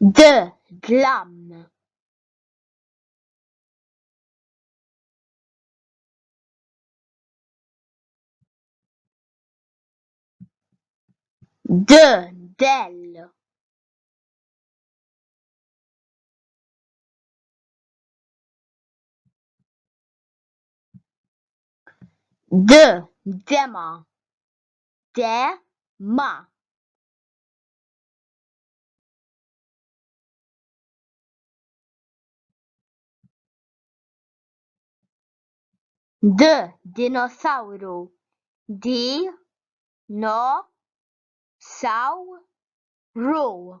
D, Dlam. D, Dell. D, Dema. Dema. D dinosawru D no saw ru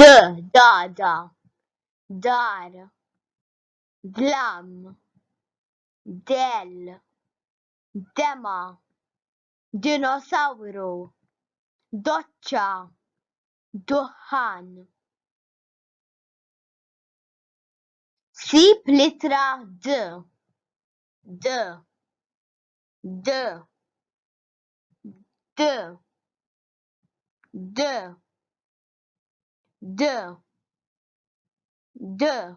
d, dada, dar, dlam, dell, dema, dinosawru, doċċa, duħħan. Sib l-ittra d, d, d, d, de de de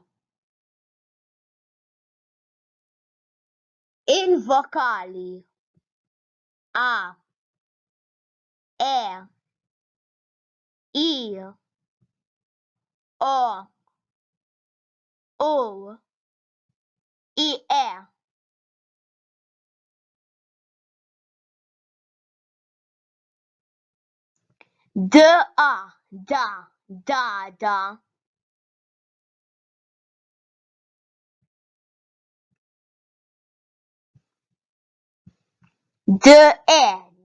il-vokali a e i o u i e DA, da, dada. DE,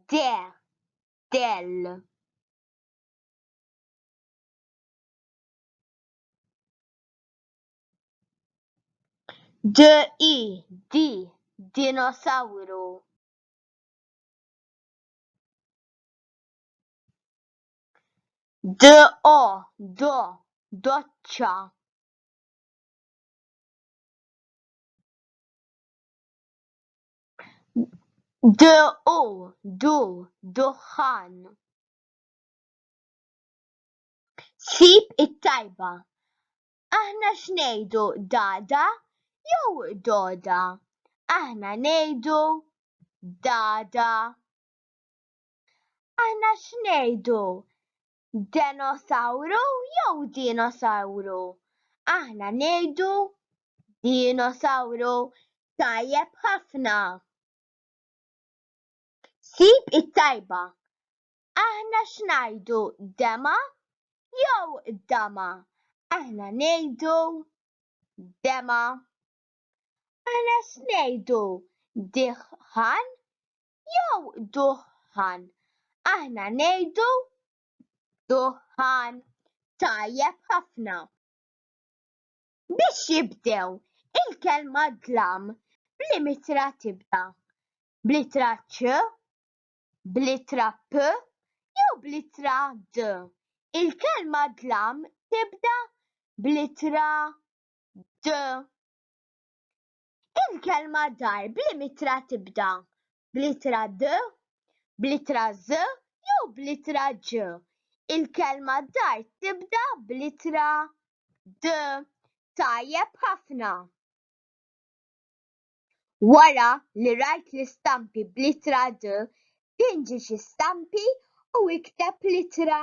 de, del. DI, di, dinosauru. DO, do, doċċa. DU, du, duħħan. Sib it-tajba. Aħna x'ngħidu dada jew doda? Aħna ngħidu dada. Aħna x'ngħidu denosawru jew dinosawru? Aħna ngħidu dinosawru. Tajjeb ħafna! Sib it-tajba. Aħna x'ngħidu dema jew dama? Aħna ngħidu dema. Aħna x'ngħidu diħħan jew duħħan? Aħna ngħidu duħħan. Tajjeb ħafna. Biex jibdew il-kelma dlam b'limitra tibda b'littra ċ bl-ittra p jew bl-ittra d. Il-kelma dlam tibda bl-ittra d. Il-kelma dar b'liema ittra tibda, bl-ittra d, bl-ittra ż jew bl-ittra ġ? Il-kelma dar tibda bl-ittra d. Tajjeb ħafna. Wara li rajt l-istampi bl-ittra D, pinġi xi stampi u ikteb l-ittra.